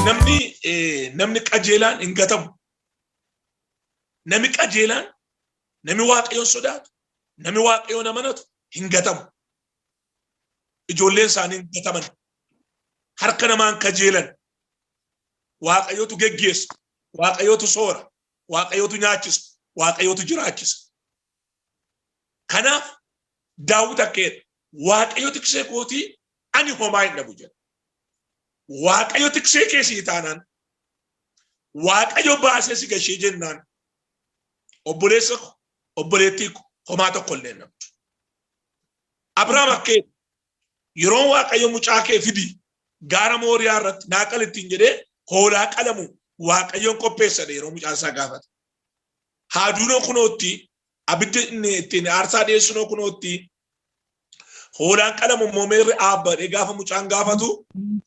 namni eh, namni qajeelaan hin gatamu. Namni qajeelaan namni waaqayyoon sodaatu namni waaqayyoon amanatu hin gatamu. Ijoolleen isaanii hin gataman. Harka namaan kajeelan waaqayyotu geggeessa. Waaqayyootu soora, waaqayyootu nyaachisa, waaqayyootu jiraachisa. Kanaaf daawwit akkeedha. Waaqayyo tiksee kootii ani homaa hin dhabu jedha. Waaqayyo tiksee kee sii taanaan, waaqayyo baasee si gashee jennaan, obboleessa ko, obboleettii ko, homaa tokko illee hin dhabdu. Abrahaam akkeedha. Yeroon Waaqayyo mucaa kee fidi gaara Mooriyaa irratti naa qali ittiin jedhee hoolaa qalamu Waaqayyoon qopheessadhe yeroo mucaan isaa gaafate. Haaduunoo kunootti abidda inni ittiin aarsaa dhiyeessunoo kunootti hoolaan qalamu immoo meerri aabbadhee gaafa mucaan gaafatu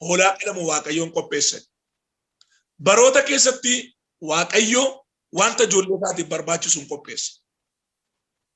hoolaa qalamu Waaqayyoon qopheessadhe. Baroota keessatti Waaqayyo wanta ijoollee isaatiif barbaachisu hin qopheessa.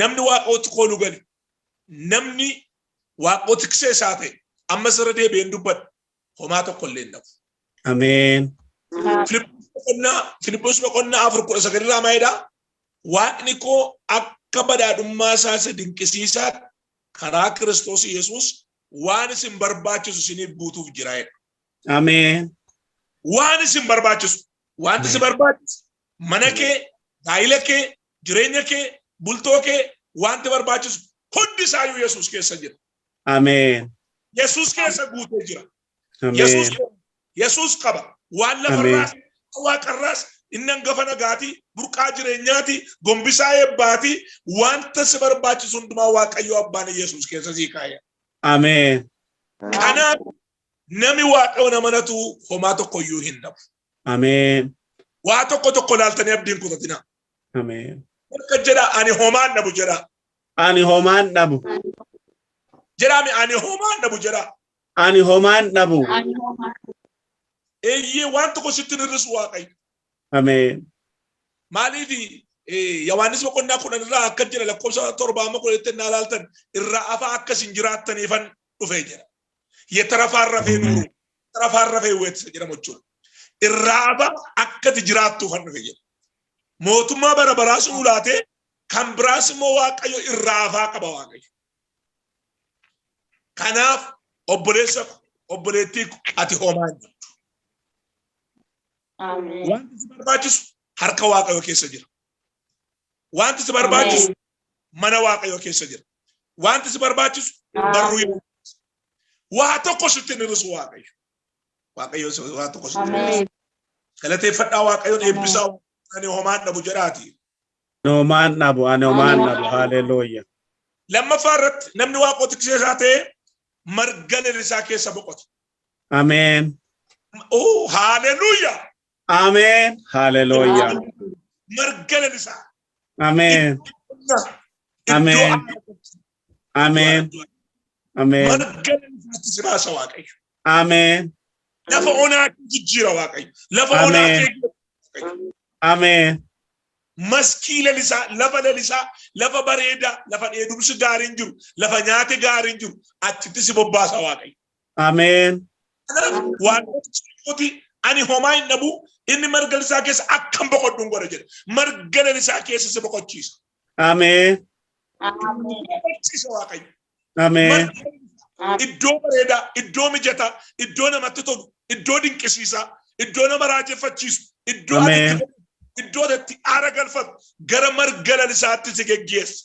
namni Waaqayyootti koolu gale, namni Waaqayyoo tiksee isaa ta'e, ammas irra deebi'een dubbadha, homaa tokko illee hin dhabu. Ameen. Filiphos boqonnaa afur kudha sagal irraa maalidha? Waaqni koo akka badhaadhummaa isaa isa dinqisiisaa karaa Kiristoos Yesuus waan isin barbaachisu isiniif guutuuf jira jedha. Ameen. Waan isin barbaachisu, wanti si barbaachisu mana kee, gaa'ila kee, jireenya kee, bultoo kee, waanti barbaachisu hundi isaayyuu Yesuus keessa jira. Ameen. Yesuus keessa guutee jira. Yesuus Ameen. qaba. Yesuus qaba. Waan Ameen. lafarraas, waan waaqarraas, inni hangafa nagaati, burqaa jireenyaati, gombisaa eebbaati, wanta si barbaachisu hundumaa Waaqayyo Abbaan Yesuus keessa sii kaa'e. Ameen. Kanaaf Nami Waaqayyoon amanatu homaa tokko iyyuu hin dhabu. Ameen. Waa tokko tokko laaltanii abdiin kutatina. Ameen. Akka jedha ani homaan dhabu jedha. Ani homaan dhabu. Jedhaami ani homaan dhabu jedha. Ani homaan dhabu. Eeyyee waan tokko sitti hir'isu Waaqayyo. Ameen. Maaliif Yohaannis boqonnaa kudhan irraa akka jedha lakkoofsa torba amma kudhanitti naa laaltan irraa afaa akka isin jiraattaniifan dhufee jira. Yetarafaan rafee nuuru tarafaan rafee weetisa jedhamu jechuudha. Irraa aba akkati jiraattuufan dhufe jedha. Mootummaa bara baraas nuu laatee kan biraas immoo waaqayyo irraa afaa qaba waaqayyo. Kanaaf obboleessa ko obboleettii ko ati homaa hin qabdu. Ameen. Wanti si barbaachisu harka waaqayyo keessa jira. Wanti si barbaachisu mana waaqayyo keessa jira. Wanti si barbaachisu barruu hin waa tokko sitti hin hir'isu waaqayyo. Waaqayyo si- waa tokko sitti hin hir'isu. Ameen. Galateeffadhaa waaqayyoon Ameen. eebbisaa ani homaan dhabu jedhaati. Noomaan dhabu, ani homaan dhabu. Haleluuya. Lammaffaa irratti namni waaqoo tiksee isaa ta'e marga lalisaa keessa boqota. Ameen. Oh, haleluuya! Ameen. Haleluya. Marga lalisaa. Ameen. Ameen. Ameen. Ameen. Marga lalisaatti si baasa Waaqayyo. Ameen. Lafa onaa kee jijjiira Waaqayyo. Lafa onaa Ameen. kee jijjiira. Ameen. maskii lalisaa, lafa lalisaa, lafa bareedaa, lafa dheedumsi gaariin jiru, lafa nyaati gaariin jiru, achitti si bobbaasa Waaqayyo. Ameen. Waaqni ani homaa hin dhabu inni marga isaa keessa akkan boqodhu hin godha jedha. Marga lalisaa keessa si boqochiisa. Ameen. Boqochiisa Waaqayyo. Ameen. Iddoo bareedaa, iddoo mijataa, iddoo namatti tolu, iddoo dinqisiisaa, iddoo nama raajeffachiisu, iddoo Ameen. iddoo itti aara galfatu gara marga lalisaatti si geggeessa.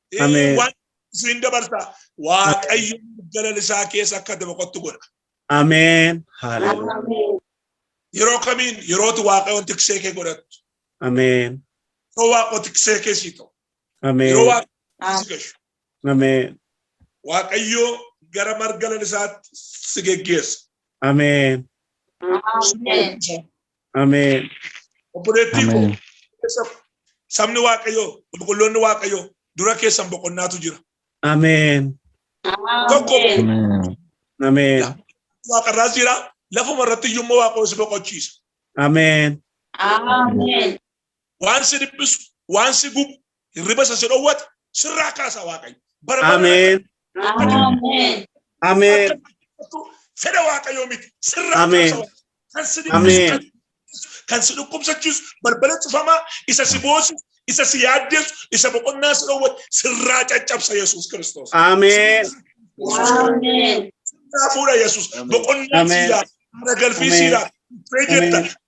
Ameen. Waan siin dabarsa waaqayyo galala isaa keessa akka itti boqottu godha. Ameen. Haleluya. Yeroo kamiin yerootu waaqayyoon tiksee kee godhattu. Ameen. Yeroo waaqoo tiksee kee sii ta'u. Yeroo Ameen. waaqoo si gashu. Ameen. Waaqayyo gara marga lalisaatti si geggeessa. Ameen. Ameen. Obboleettii koo Ameen. keessa sabni Waaqayyoo qulqulloonni Waaqayyoo dura keessan boqonnaatu jira. Ameen. Tokko Ameen. Ameen. Ameen. waaqarraas jira lafuma irratti iyyuu immoo Waaqayyoo si boqochiisa. Ameen. Ameen. waan si dhiphisu, waan si gubu, hirriba isa si dhowwate sirraa kaasa Waaqayyo. Bara baraan Ameen. Ameen. Ameen. akka fedha Waaqayyoo miti sirraa Ameen. kaasa Waaqayyo. Kan si Ameen. dhiphisu, kan si dhiphisu, kan si dhukkubsachiisu, balbala cufamaa, isa si boosu, isa si yaaddeessu, isa boqonnaa si dhowwate sirraa caccabsa Yesuus Kiristoos. Ameen. Ameen. Sirraa fuudha Yesuus. Boqonnaa Ameen. siidhaa, haara galfii Ameen. siidhaa, dhufee jirta, Ameen.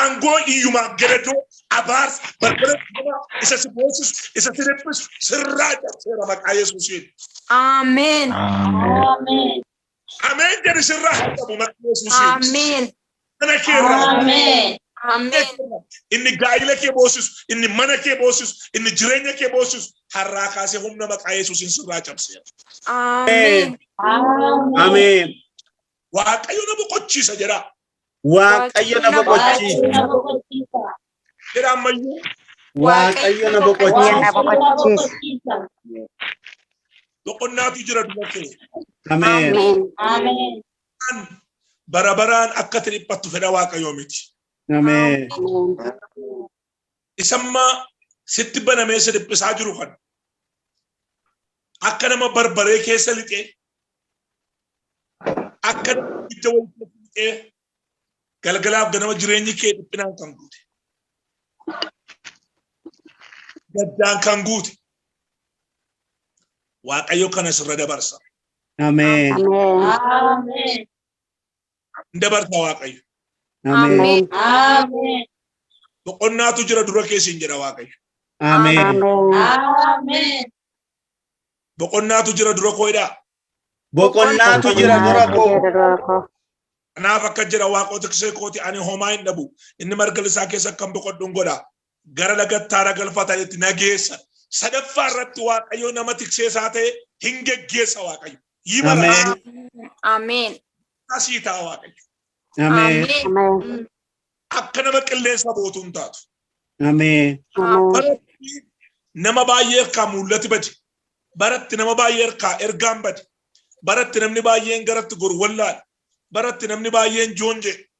Aangoo iyyumaa gadadoo, abaarsa, barbada cufamaa isa si boonsisu, isa si dhiphisu sirraa cabseera maqaa Yesuusiin. Ameen. Ameen. Ameen jedhi sirraa haa cabu maqaa Yesuusiin. Ameen. Mana kee irraa haa Ameen. Ameen. inni gaa'ila kee boosisu, inni mana kee boosisu, inni jireenya kee boosisu har'aa kaasee humna maqaa Yesuusiin sirraa cabseera. Ameen. Ameen. Ameen. Waaqayyo na boqochiisa jedha. Waaqayyo na boqochiisa. Jedha ammayyuu. Waaqayyo na boqochiisa. boqochiisa. Boqonnaatu jira dubartee. Ameen. Ameen. Kan bara baraan akka ati dhiphattu fedha Waaqayyoo miti. Ameen. isamma sitti banamee si dhiphisaa jiru kan akka nama barbaree keessa lixee akka nama ibidda wayii keessa lixee galgalaaf ganama jireenyi kee dhiphinaan kan guute gaddaan kan guute waaqayyo kana sirra dabarsa Ameen. Ameen. Ameen. hin dabarta waaqayyo. Ameen. Ameen. Boqonnaatu jira dura keessa hin jedha waaqayyo. Ameen. Ameen. Boqonnaatu jira dura koo jedhaa. Boqonnaatu jira dura koo. Kanaaf akka jira waaqota kisee kooti ani homaa hin dhabu. Inni marga lisaa keessa kan boqodhu hin godha. gara lagattaara galfatanitti na geessa. Sadaffaa irratti Waaqayyo nama tiksee isaa ta'e hin geggeessa Waaqayyo. Yimala Ameen. asii ta'a Waaqayyo. Ameen. Ameen. Akka nama qilleensa bootu hin taatu. Ameen. Ameen. Baratti nama baay'ee harkaa mul'ati bade. Baratti nama baay'ee harkaa ergaan bade. Baratti namni baay'een garatti gorwallaale. Baratti namni baay'een joonje.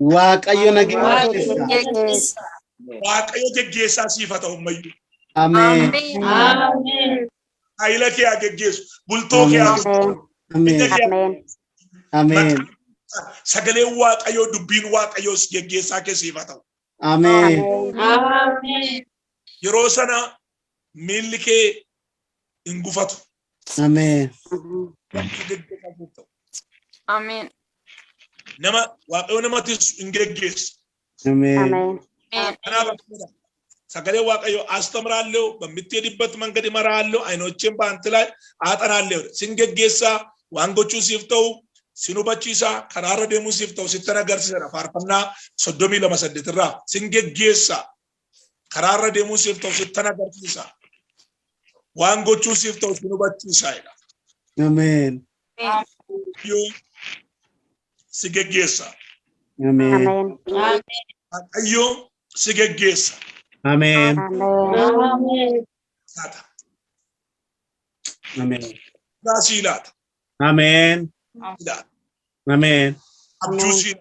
Waaqayyo nageenya Waaqayyo keessa. nageenya keessa. Waaqayyo geggeessaa siif haa ta'u ammayyuu. Ameen. Ameen. Haayila kee haa geggeessu. Bultoo kee haa Ameen. bulchu. Ameen. Ija kee haa Ameen. Ameen. sagaleen waaqayyoo dubbiin waaqayyoos geggeessaa kee siif haa ta'u. Ameen. Ameen. Yeroo sana miilli kee hin gufatu. Ameen. Namni giddu qabu ta'u. Ameen. Nama waaqayyo namatis hin geggeessu. Ameen. Ameen. Ameen. Kanaaf akkana sagalee waaqayyo astamraallee bammittee dibbatti mangadi maraallee ayinocheen baantilaa aaxanaallee sin geggeessaa waan gochuu siif ta'u sin hubachiisaa karaarra deemuu siif ta'u sittan agarsiisadha faarfannaa soddomii lama saddeetirraa sin geggeessaa Karaa irra deemuu siif ta'u sittan agarsiisa. Waan gochuu siif ta'u sin hubachiisaa jedha. Ameen. Waaqayyoo si geggeessa. Ameen. Amen. Waaqayyoo si geggeessa. Ameen. Amen. Laata. Ameen. Irraa sii laata. Ameen. Ameen. Ameen. Abjuu siin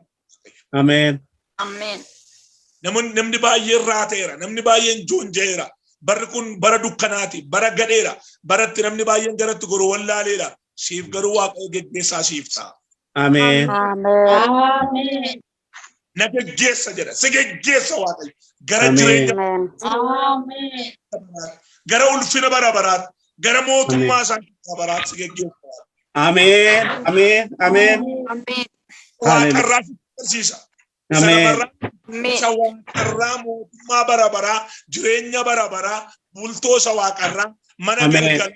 Ameen. Ameen. Namoonni namni baay'een raateera, namni baay'een joonja'eera. Barri kun bara dukkanaati, bara gadheera, bara itti namni baay'een garatti goru wallaaleera. Siif garuu Waaqayyo geggeessaa siif ta'a. Ameen. Ameen. Ameen. na geggeessa jedha. Si geggeessa Waaqayyo. Gara Ameen. jireenya Amen. bara baraatti, gara ulfina bara baraatti, gara mootummaa isaa bara baraatti si geggeessa. Ameen. Ameen. Ameen. Ameen. Waaqarraa si barsiisa. Isa Ameen. lafarraa Ameen. isa waaqarraa mootummaa bara baraa, jireenya bara baraa, bultoo isa waaqarraa, mana Ameen. galgala,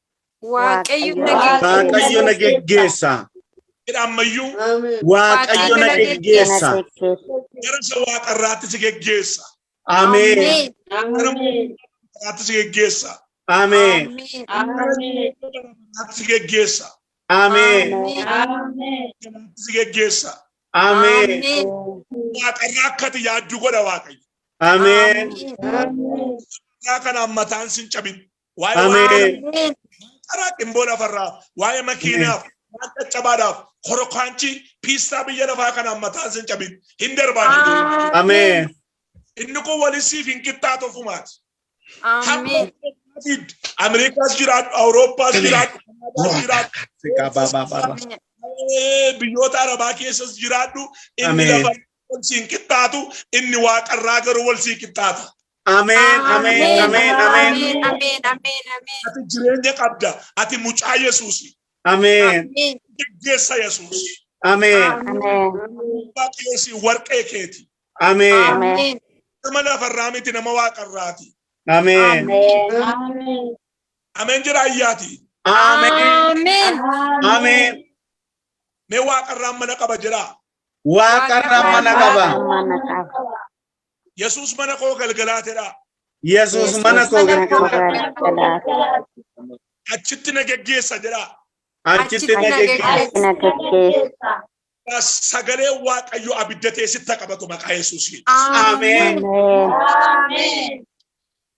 Waaqayyo na geggeessa. Waaqayyo na geggeessa. Jedha ammayyuu Waaqayyo na geggeessa. gara isa waaqa irraatti si geggeessa. Ameen. Gara irraatti si geggeessa. Ameen. Irraatti si geggeessa. Ameen. Irraatti si geggeessa. Ameen. Waaqa irraa akka ati yaaddu godha Waaqayyo. Ameen. Waaqa kanaan mataan sin cabin. Waa'ee Ameen. waa'ee karaa dhimboo lafarraa, waa'ee makiinaaf, waan caccabaadhaaf, korokaanchii, piistaa biyya lafaa kanaan mataan sin cabin. Hin darbaan jedhu. Ameen. Inni kun walisiif hin qixxaatu ofumaati. Ameen. Ameerikaas jiraadhu, Awurooppaas jiraadhu, Kanaadaas jiraadhu, Sikaabaabaabaaba. eh, biyyoota Arabaa keessas jiraadhu. Inni Ameen. lafa wal siin qixxaatu, inni waaqarraa garuu wal sii qixxaata. Ameen, ameen, Ameen, ameen, ameen. ameen, ameen, ameen, ameen. Ati jireenya qabda. Ati mucaa Yesuusi. Ameen, Ameen, Geggeessa Yesuus. ameen, Ameen. Abbaa keesi warqee keeti. ameen, ameen, Nama lafarraa miti nama waaqarraati. ameen, Ameen. Ameen jira ayyaati. ameen, ameen. ameen. Mee waaqarraan mana qaba jira. Waaqarraan mana qaba. Mana qaba. Yesuus mana koo galgalaa jedhaa. Yesuus mana koo galgalaa. Achitti na geggeessa jedhaa. Achitti na geggeessa. Sagalee Waaqayyo abidda teessitti qabatu maqaa Yesuusiin. Ameen.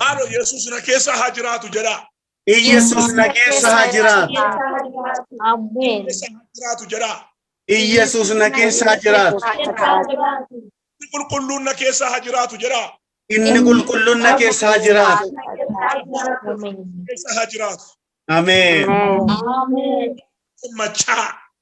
Maalo Yesuus na keessa haa jiraatu jedhaa. Iyyesuus na keessa haa jiraatu. Ameen. Keessa haa jiraatu jedhaa. Iyyesuus na keessa haa jiraatu. Inni qulqulluun na keessa haa jiraatu jedhaa. Inni qulqulluun na keessa haa jiraatu. Ameen. Keessa haa jiraatu. Ameen. Ameen. Maccaa.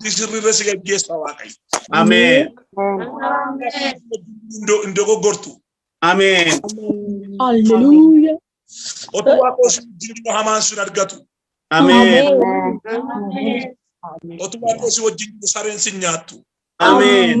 Murtii sirriirra si gaggeessa Waaqayyo. Ameen. Hin do- Hin dogoggortu. Ameen. Hallelujah. Otoo Waaqayyo si wajjin jiru hamaan sin argatu. Ameen. Otoo Waaqayyo si wajjin jiru sareen sin nyaattu. Ameen.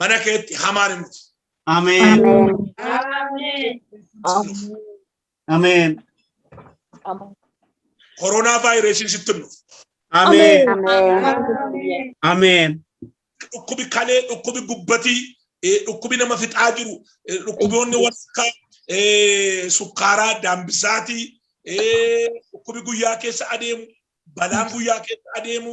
mana keetti hamaan hin dhufu. Ameen. Ameen. Koronaa vaayirasiin sitti hin dhufu. Ameen. Ameen. Dhukkubi kalee, dhukkubi gubbatii, eh, dhukkubi nama fixaa jiru, eh, dhukkuboonni walakkaa, eh, sukkaaraa, daambisaatii, eh, dhukkubi guyyaa keessa adeemu, balaan guyyaa keessa adeemu,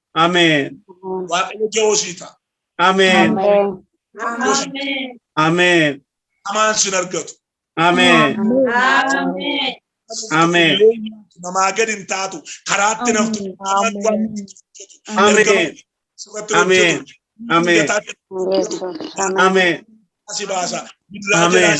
Ameen. Waaqayyo ja'oo sii ta'a. Ameen. Ameen. Hamaan sin argatu. Ameen. Ameen. Namaa gad hin taatu. Karaatti naftu. Ameen. Ameen. Ameen. Ameen. Si baasa. Ameen.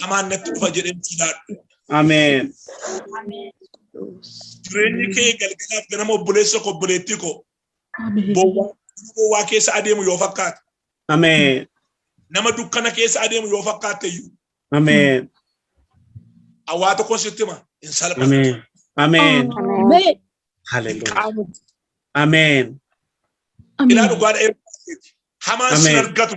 hamaan natti dhufa jedhee sodaadhu. Ameen. Jireenyi kee galgalaaf ganama obboleessa koo obboleettii koo bowwaa bowwaa keessa adeemu yoo fakkaate Ameen. nama dukkana keessa adeemu yoo fakkaatte iyyuu Ameen. hawaa tokko sitti hima hin salphatu. Ameen. Ameen. Ameen. Hallelujah. Qaama Ameen. ilaa dhugaadha eebbaa keeti. Hamaan sin Ameen. argatu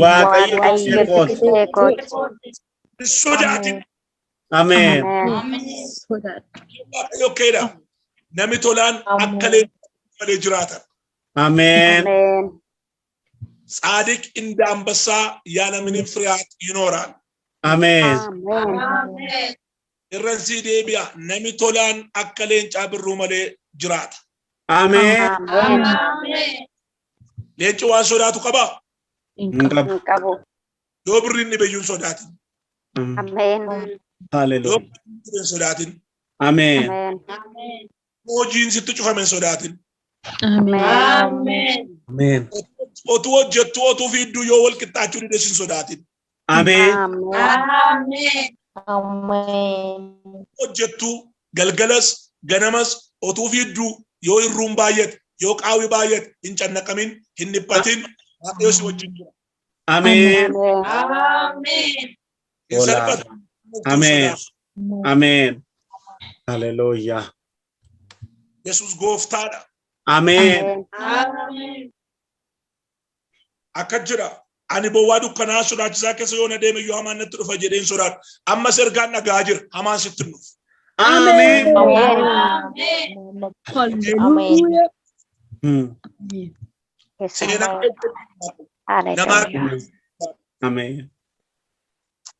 Waaqayyo Waaqayyo tiksee kooti. tiksee kooti. Hin sodaatin. Ameen. Ameen. Waaqayyo keedha. Nami tolaan akka leencaa malee jiraata. Ameen. Ameen. Tsaadiq inda ambassaa yaa namni firiyaat yinoora. Ameen. Ameen. Irran sii deebi'a. Nami tolaan akka leencaa birruu malee jiraata. Ameen. Ameen. Leenci waan sodaatu qabaa? Hin Hin qabu. hin qabu. Yoo birriin dhibe iyyuu hin sodaatin. Mm. Ameen. Yoo Hallelujah. birriin dhibe hin sodaatin. Ameen. Ameen. Yoo hojiin sitti cufame hin sodaatin. Ameen. Ameen. Otuu hojjettu otuu fiidduu yoo wal qixxaachuu dide hin sodaatin. Ameen. Ameen. Ameen. hojjettu galgalas ganamas otuu fiidduu yoo hirruun baay'ate yoo qaawwi baay'ate hin cannaqamin hin dhiphatin waaqayyo si wajjin jira Ameen. Ameen. hin Hola. salphatu Ameen. Ameen. Haleluuyaa. yesus gooftaadha Ameen. Ameen. Akkas jedha, Ani bowwaa dukkanaa'aa sodaachisaa keessa yoon adeeme iyyuu hamaan natti dhufa jedheen sodaadha. Ammas ergaan dhaga'aa jira, hamaan sitti hin dhufu. Ameen. Hallelujah. Seenaa namaa Ameen.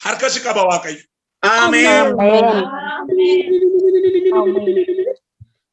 harka si qaba Waaqayyo. Ameen. Ameen.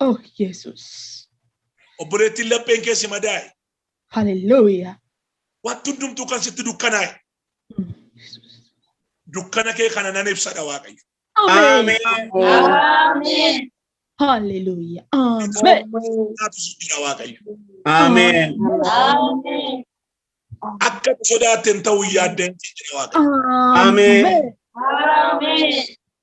Oh, Yesus. Obboleettiin lapheen kee si madaa'e. Hallelujah. Wanti hundumtuu kan sitti dukkanaa'e. Mm, Yesus. Dukkana kee kana nan ibsadha Waaqayyo. Amen. Amen. Hallelujah. Amen. Naatu si jira Waaqayyo. Amen. Amen. Akka nu sodaatte hin ta'u yaadda hin jira Waaqayyo. Amen. Amen.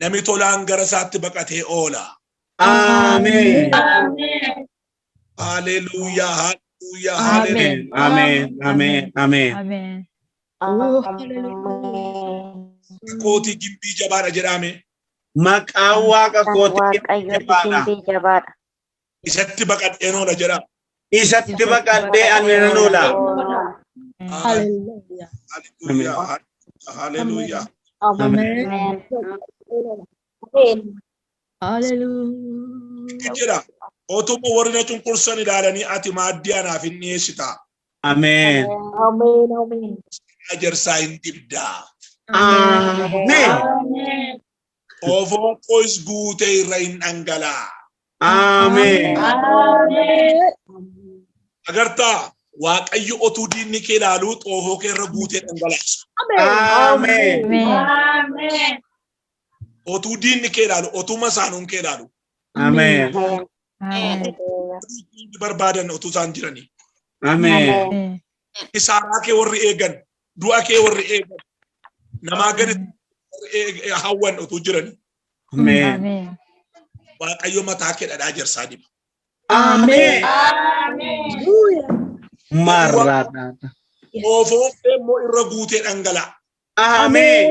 Nami tolaan gara isaatti baqatee oola. Ameen. Haleluuyaa, haleluuyaa, haleluuyaa. Ameen. Ameen. Ameen. Ameen. Ameen. Kootii gimbii jabaadha jedhaame. Maqaan waaqa Kan kootii Waaqayyooti jabbaadha. gimbii jabaadha. Isatti baqadhee noola jedha. Isatti baqadhee ani nan oola. Hallelujah. Haleluuyaa. Haleluuyaa. Amen. Hallelujah. Inni jedha. Otuma warri na cunqursan ilaalanii ati maaddii anaaf hin dhiyeessita. Ameen. Amen. Amen. Ajarsaa hin dibdaa. Ameen. Qofoon qoys guutee irra hin dhangalaa. Ameen. Agartaa Waaqayyo otuu diinni kee ilaaluu xoofoo kee irra guutee dhangalaasa. Ameen. Otuu diinni kee ilaalu, otuu masaanuun kee ilaalu. Ameen. Diinni barbaadan otuu isaan jiranii. Ameen. Kisaaraa kee warri eegan, du'a kee warri eegan namaa gadi warri eeg- hawwan utuu jirani Ameen. Ameen. waaqayyo mataa kee dhadhaa jarsaa diba. Ameen. Marraadhaa. Oofoon kee immoo irra guutee dhangala'a. Ameen.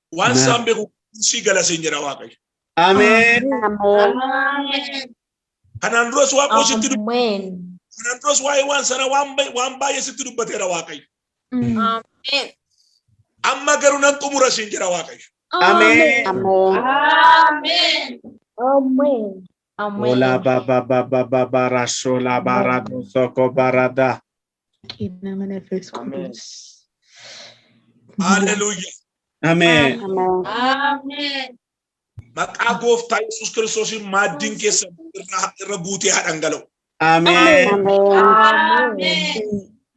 Waan Amen. isaan beeku si gala siin jedha Waaqayyo. Ameen. Kanaan duras waan koo sitti dubbate. Amen. Kanaan duras waa'ee waan sana waan bay- waan baay'ee sitti dubbateera Waaqayyo. Amen. Amma garuu nan xumura siin jedha Waaqayyo. Ameen. Amen. Amen. Amen. Ola baba baba baba rashola barado soko barada. Qinna mana fees Amees. Hallelujah. Ameen. Amen. Maqaa gooftaa Yesuus Kiristoosiin maaddiin keessan irra irra guutee haa dhangala'u. Ameen. Amen.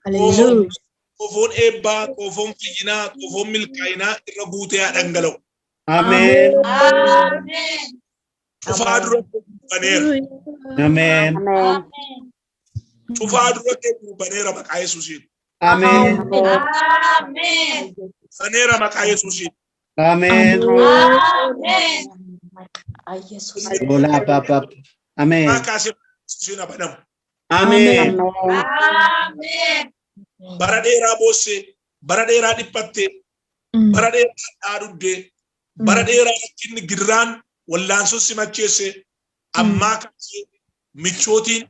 Hallelujah. Qofoon eebbaa, qofoon fayyinaa, qofoon milkaa'inaa irra guutee haa dhangala'u. Ameen. Amen. Cufaa dura baneera. Ameen. Amen. Cufaa dura keenya baneera maqaa Yesuusiin. Ameen. Amen. Baneera maqaa Yesuusiin. Ameen. Amen. Yesus. Bola papa. Ameen. Maqaa Yesuusiin abadamu. Ameen. Amen. Bara dheeraa boossee, bara dheeraa dhiphattee, bara dheeraa dhaadubdee, bara dheeraa rakkinni gidiraan wallaansuun si macheesse, ammaa kaasee michootiin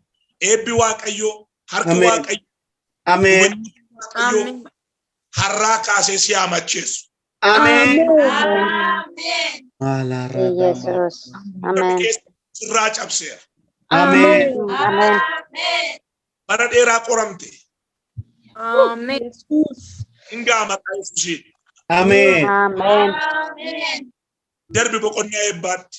eebbi waaqayyoo harki Ameen. waaqayyoo Ameen. hubannoo waaqayyoo Ameen. har'aa kaasee si haa macheessu. Ameen. Maalaa ragaa Yesus. Amen. Sirraa cabseera. Ameen. Amen. Bara dheeraa qoramte. Amen. Hingaa maqaa Yesuusiin. Ameen. Amen. Darbi boqonnaa eebbaatti.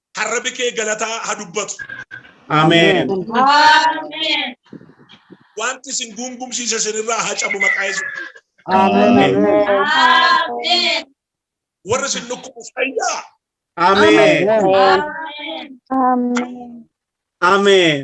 kan rabi kee galataa ha dubbatu. Ameen. Amen. Wanti isin gungumsiise isinirraa haa cabu maqaa Yesuus. Ameen. Amen. Warri isin dhukkubu fayyaa. Ameen. Amen. Amen. Ameen.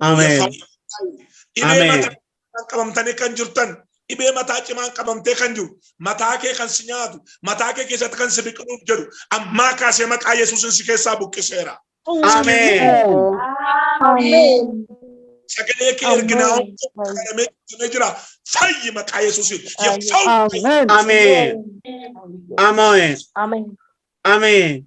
Ameen. Dhibee Ameen. mataa kan qabamtanii kan jirtan dhibee mataa cimaan qabamtee kan jiru mataa kee kan si nyaatu mataa kee keessatti kan si biqiluuf jedhu ammaa kaasee maqaa yesuusin si keessaa buqqiseera. Ameen. Sagalee kee erginaa qalamee qalamee jira fayyi maqaa yesuusin. Ameen. Ameen. Ameen. Ameen.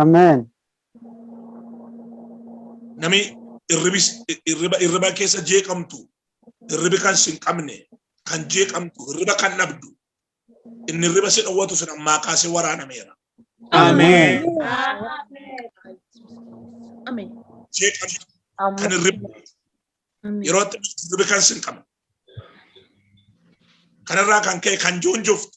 Ameen. Nami irribis irriba irriba keessa jeeqamtu irribi kan sin qabne kan jeeqamtu irriba kan dhabdu inni irriba si dhowwatu sun ammaa kaasee waraanameera. Ameen. Ameen. Jeeqamtu kan irriba yeroo itti irribi kan sin qabne. Kanarraa kan ka'e kan joonjoftu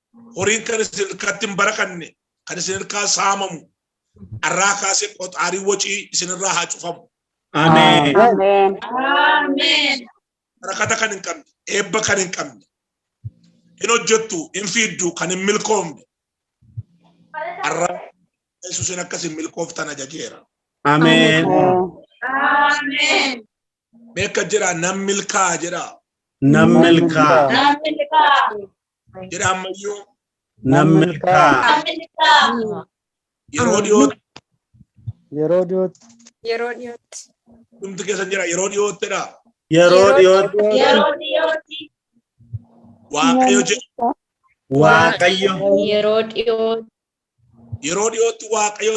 horiin kan isin irkaatti hin barakanne kan isin irkaa saamamu arraa kaasee qoxaarii wacii isin irraa haa cufamu. Ameen. Ameen. Ameen. Barakata kan hin qabne, eebba kan hin qabne, hin hojjettu, hin fiiddu, kan hin milkoomne. Arraa Yesuusin akka isin milkooftan ajajeera. Ameen. Ameen. Beeka jedhaa nan milkaa'a jedhaa. Nan milkaa. Namni kaa. jedha ammayyuu nan milkaa'a. Yeroo dhiyootti Yeroo dhiyootti. Yeroo dhiyootti. dhumti keessa jira yeroo dhiyoottidha. Yeroo dhiyootti Yeroo dhiyootti. Waaqayyo jedha. Waaqayyo Yeroo dhiyootti. Yeroo dhiyootti Waaqayyo